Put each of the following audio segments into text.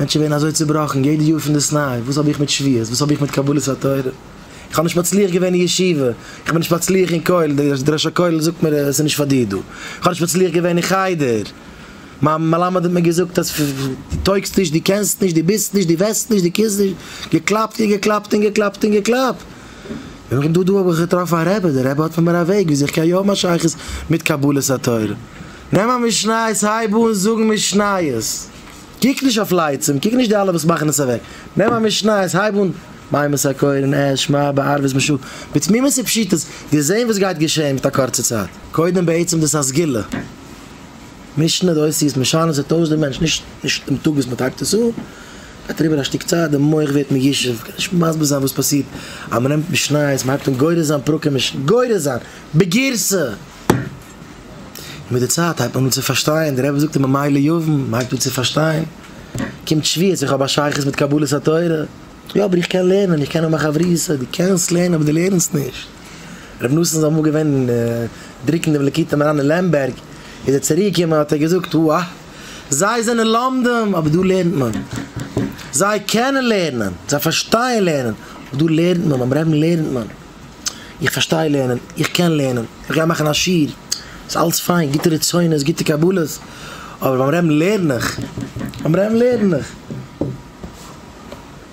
מענטשן ווערן אזוי צובראכן יעדע יאר פון דאס ניי, וואס האב איך מיט שוויות? וואס האב איך מיט קבלת התורה? איך האב נישט מצליח געווען אין ישיבה, איך בין נישט מצליח אין כולל, די ראש הכולל זאגט מיר עס איז נישט פאר דיר דא, איך האב נישט מצליח געווען אין חדר, מיין מלמד האט מיר געזאגט אז דו טויגסט נישט, דו קענסט נישט, דו ביסט נישט, דו וועסט נישט, דו קומסט נישט, געקלאפט און געקלאפט און געקלאפט און געקלאפט, און דא דא האב איך געטראפן א רבי, דער רבי האט פאר מיר א וועג וויאזוי איך קען יא האבן א שייכות מיט קבלת התורה, נעם א משניות, הייב אן זאגן משניות. קוק נישט אויף לייצים, קוק נישט די אלע וואס מאכן עס אוועק, נעם א משניות הייב אן, מימות הקורן, ע ש, מא, בערבות משא כ, בתמימות ופשיטות, וועסט זען וואס גייט געשען מיט א קורצע צייט. קודם בעצם דאס א סגולה, משנה די אותיות, משנה עס אויס די מענטש, נישט נישט דעם טאג וואס מען טייפט עס אן, גייט אריבער א שטיק צייט די מח ווערט מיושב, מ'קען נישט מסביר זיין וואס פאסירט, אז מען נעמט משניות, מען הייבט אן גורס זיין פרקים, גורס זיין, בגירסא! מיט די צייט הייבט מען אן צו פארשטיין, דער רבי זאגט אין במילא יבין, מען הייבט אן צו פארשטיין, קומט שוויות, איך האב א שייכות מיט קבלת התורה, יא אבער איך קען לערנען, איך קען האבן א חברותא, דו קענסט לערנען אבער דו לערנסט נישט, רבי נתן איז אמאל געווען דרוקן דעם לקוטי מוהרן אין לעמבערג, איז ער צוריק געקומען האט ער געזאגט, הא, זיי זענען לומדים אבער דא לערנט מען, זיי קענען לערנען, זיי פארשטייען לערנען, אבער דא לערנט מען, ביים רעבן לערנט מען, איך פארשטיי לערנען, איך קען לערנען, איך גיי מאכן א שיעור, ס'איז אלץ פיין, גוטע רצונות, גוטע קבלות, אבער ביים רעבן לערן איך, ביים רעבן לערן איך.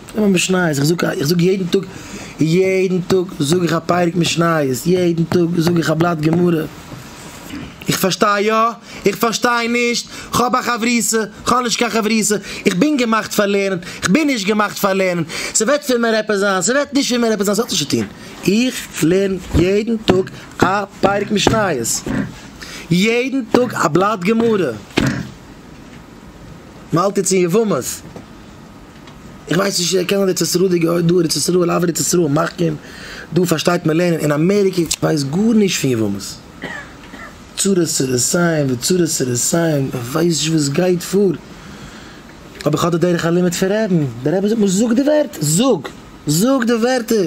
איך נעם א משניות, איך זאג, איך זאג יעדן טאג, יעדן טאג זאג איך א פרק משניות, יעדן טאג זאג איך א בלאט גמרא. איך פארשטיי יא, איך פארשטיי נישט, כ'האב א חברותא, כ'האב נישט קיין חברותא, איך בין געמאכט פאר לערנען, כ'בין נישט געמאכט פאר לערנען, ס'וועט פון מיר עפעס זיין, ס'וועט נישט פון מיר עפעס זיין, ס'האט נישט צוטון, איך לערן יעדן טאג א פרק משניות, יעדן טאג א בלאט גמרא, מ'האלט יעצט אין יבמות. איך ווייס נישט צו ער קען ארץ ישראל געהער דא ארץ ישראל אוו ארץ ישראל מחכים דא פארשטייט מען לערנען אין אמעריקע איך ווייס גארנישט פון יבמות צרות צרותיים וצרות צרותיים איך ווייס נישט וואס גייט פאר אבער איך האב די דרך הלימוד פון רעבען דער רבי זאגט מיר זאג די ווערטער זאג זאג די ווערטער.